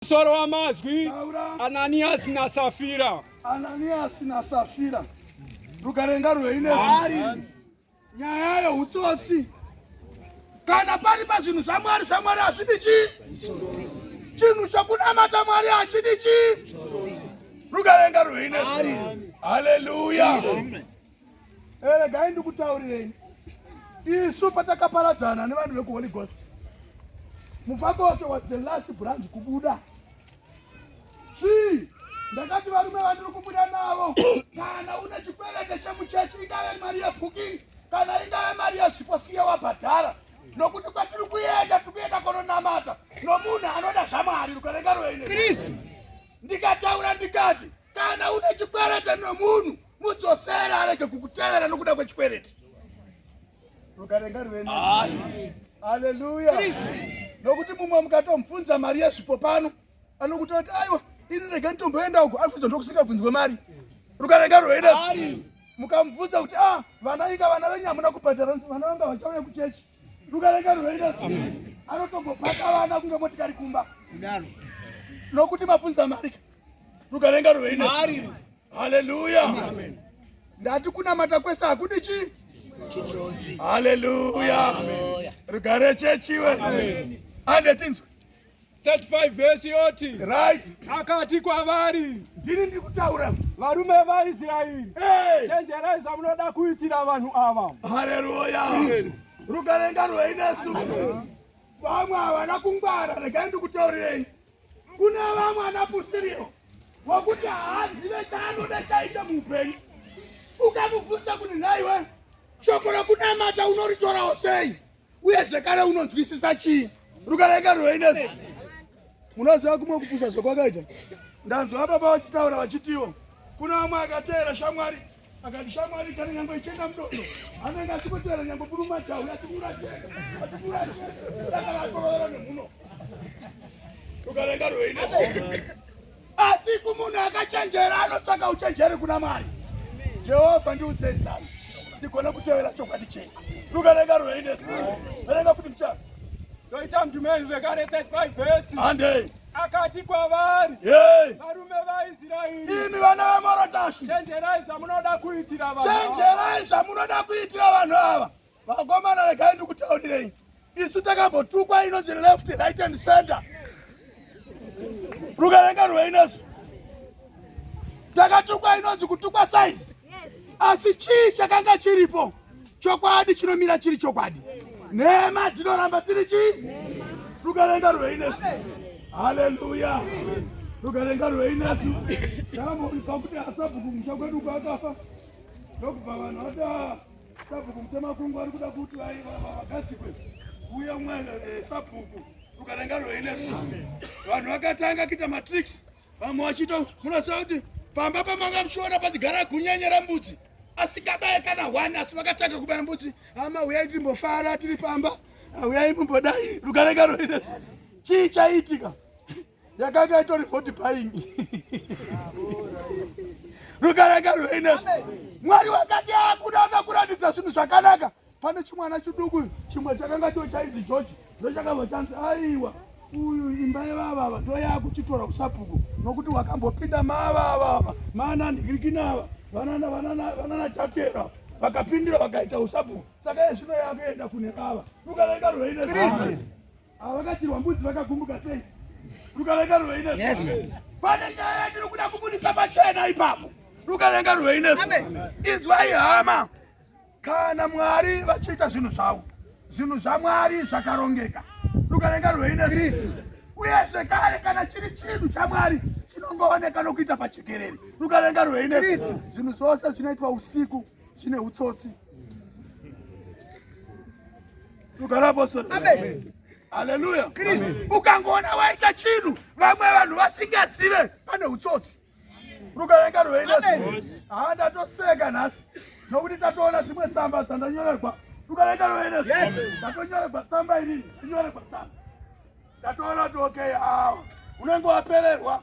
Musoro wamazwi Ananiasi naSafira. Ananiasi naSafira. Rukarenga rweinezari. Nyaya yeutsotsi. Kana pari pazvinhu zvaMwari zvaMwari hazvidi chii? Chinhu chokunamata Mwari hachidi chii? Rukarenga rweinezari. Hallelujah. Eh, regai ndikutaurireni isu patakaparadzana nevanhu vekuholy ghost mufakose was the last branch kubuda chii ndakati varume vandiri kubuda navo kana une chikwerete chemuchechi ingave mari yebooking kana ingave mari yezvipo siye wabhadhara nokuti kwatiri kuenda tiri kuenda kononamata nomunhu anoda zvamwari rukarenga roine ndikataura ndikati Kana une chikwerete nomunhu mudzosere arege kukutevera nokuda kwechikwerete. Rukarenga ruve nemi. Haleluya. Nokuti mumwe mukatomubvunza mari yezvipo pano anokuta kuti aiwa ini rega nditomboenda uko afunza ndokusingabvunzwe mari. Rukarenga ruve nemi. Mukamubvunza kuti ah vana inga vana venyu hamuna kubhadhara vana vanga vachauya kuchechi. rukareka runoita zii anotombopaka vana kunge motikari kumba kudaro nokuti mabvunza marika rukarenga ruveine haleluya ndati kunamata kwese hakudi chii haleluya rugare chechiwe andetinzwe 35 vhesi yoti right. akati kwavari ndini ndiri kutaura varume vaisraeri hey. chenjerai zvamunoda kuitira vanhu ava haleluya rugare ngarwei nesu vamwe havana kungwara regai ndikutaurirei kune vamwe ana pusirio wakuti haazive chaanoda chaita muupenyu ukamubvunza kuti nhaiwe shoko rokunamata unoritorawo sei uye zvekare unonzwisisa chii rukareka rweinesi munoziva kumwe kupusa zvekwakaita ndanzwa vababa vachitaura vachitiwo kuna vamwe akateera shamwari akati shamwari kana nyangwe ichienda mudodo anenge achikoteera nyangwe burumajahu achiuracheachiuracheaaaaa nemhuno rukareka rweinesi Asi kumunhu akachenjera anotsvaka uchenjeri kuna Mwari. Jehovha ndiudzei zano ndigone kutevera chokwadi chenyu. Luka renga rwei nesu. Verenga futi muchana. Ndoita mdumeni zvekare 35 vhesi. Handei. Akati kwavari. Yei. Varume vaIsraeri. Imi vana vaMorotashi. Chenjerai zvamunoda kuitira vanhu. Chenjerai zvamunoda kuitira vanhu ava. Vakomana regai ndikutaurirei. Isu takambotukwa inonzi left right and center. Rukarenga rweinesu. Takatukwa inonzi kutukwa size. Asi chii chakanga chiripo? Chokwadi chinomira chiri chokwadi. Nhema dzinoramba dziri chii? Rukarenga rweinesu. Hallelujah. Rukarenga rweinesu. Takamboisa kuti asabhuku musha kwedu kwakafa. Ndokubva vanhu vati Sabhuku Mutemakungu ari kuda kuti vagadzikwe uye umwe eh, sabhuku rukarenga rweinesu vanhu vakatanga kuita matricks vamwe vachito munoziva kuti pamba pamanga muchiona pachigara kunyenyera mbudzi asingabaye kana hwani asi vakatanga kubaya mbudzi ama huyai timbofara tiri pamba huyai mumbodai rukarenga rweinesu chii chaiitika yakanga itori vote buying rukaranga rweiness mwari wakati akuda ah, akakuratidza zvinhu zvakanaka pane chimwana chiduku chimwe chakanga cho chaizi george ndochakabva chanzi aiwa uyu imba yevavava ndoyakuchitora kusabhuku nokuti wakambopinda mavavava maananhirikinava vanana vanana vanana chatera vakapindira vakaita usabhuku saka yezvino yakuenda kune vava rukaranga rweiness Ava vakatirwa mbudzi vakagumbuka sei? Rukavenga ruveine zuro. Pane nyaya yandiri kuda kubudisa pachena ipapo. Rukavenga ruveine zuro. Inzwai hama. Kana Mwari vachiita zvinhu zvavo, zvinhu zvaMwari zvakarongeka. Rukavenga ruveine Kristu. Uye zvekare kana chiri chinhu chaMwari chinongooneka nokuita pachekerere. Rukavenga ruveine zuro. Zvinhu zvose zvinoitwa usiku. zvine utsotsi rugara apostori amen haleluya kristu ukangoona waita chinhu vamwe vanhu vasingazive pane utsotsi rukavenga rweidas haa ndatoseka nhasi nokuti tatoona dzimwe tsamba dzandanyorerwa rukavenga rweidas ndatonyorerwa tsamba irini inyorerwa tsamba ndatoona kuti okay awa unenge wapererwa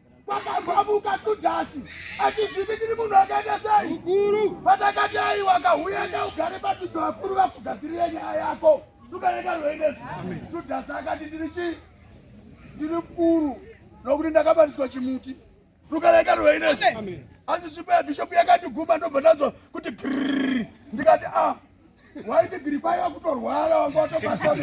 Kwakabvamuka Judhasi achizviti tiri munhu akaita sei mukuru, patakati aiwa kahuya kaugare padzidzo vakuru vakugadzirire nyaya yako tukaneka rwendesi. Judhasi akati ndiri chii? Ndiri mukuru nokuti ndakabatiswa chimuti rukareka rwendesi. Asi svipa yabhishopu yakati guma ndobva ndanzwa kuti grrrr ndikati ah waiti giripai vakutorwara wanga watobatwa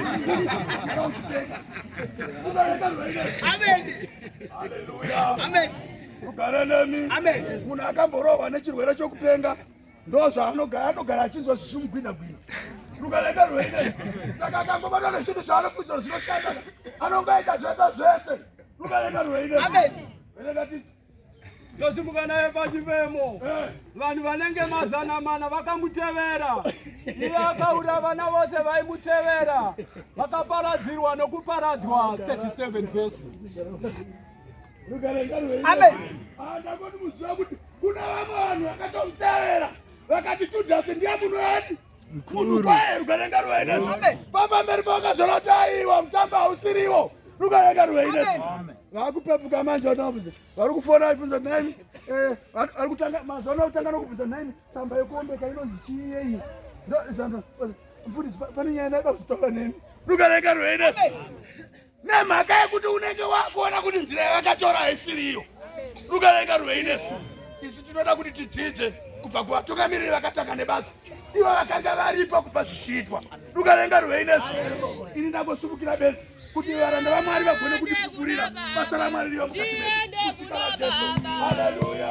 rugare nemi munhu akamborohwa nechirwere chokupenga ndo zvaanogara anogara achinzwa zvichimugwina gwina rukareka rwene saka akangobatwa nezvinhu zvaanofunzira zvinoshanda anonga aita zvese zvese rukareka rwene ndosimuka naye pachivemo vanhu vanenge mazana mana vakamutevera iye akaura vana vose vaimutevera vakaparadzirwa nokuparadzwa 37 vhesi ndakoti muziva kuti kuna vamwe vanhu vakatomutevera vakati tudhasi ndiye muno yani Mkuru kwaye rukarenga ruwe nesu. Baba mberi boka zvono taiwa mtamba hausiriwo. Rukarenga ruwe nesu. Vakupepuka manje wanobuza. Vari kufona ibvunza nani? Eh, vari kutanga mazona kutanga nokubvunza nani? Tsamba yekombe kainonzi chiye iyi. Ndo zvanzo. Mfundisi pane nyaya ndaida kuzitaura nemi. Rukarenga ruwe nesu. nemhaka yekuti unenge wakuona kuti nzira yavakatora haisiri iyo rukavenga ruvei nesu isu tinoda kuti tidzidze kubva kuvatungamiriri vakatanga nebasa ivo vakanga varipo kubva zvichiitwa rukavenga ruvei nesu ini ndangosumukira bedzi kuti varanda vamwari vagone kutipupurira basa ramwari riva mukati medu haleluya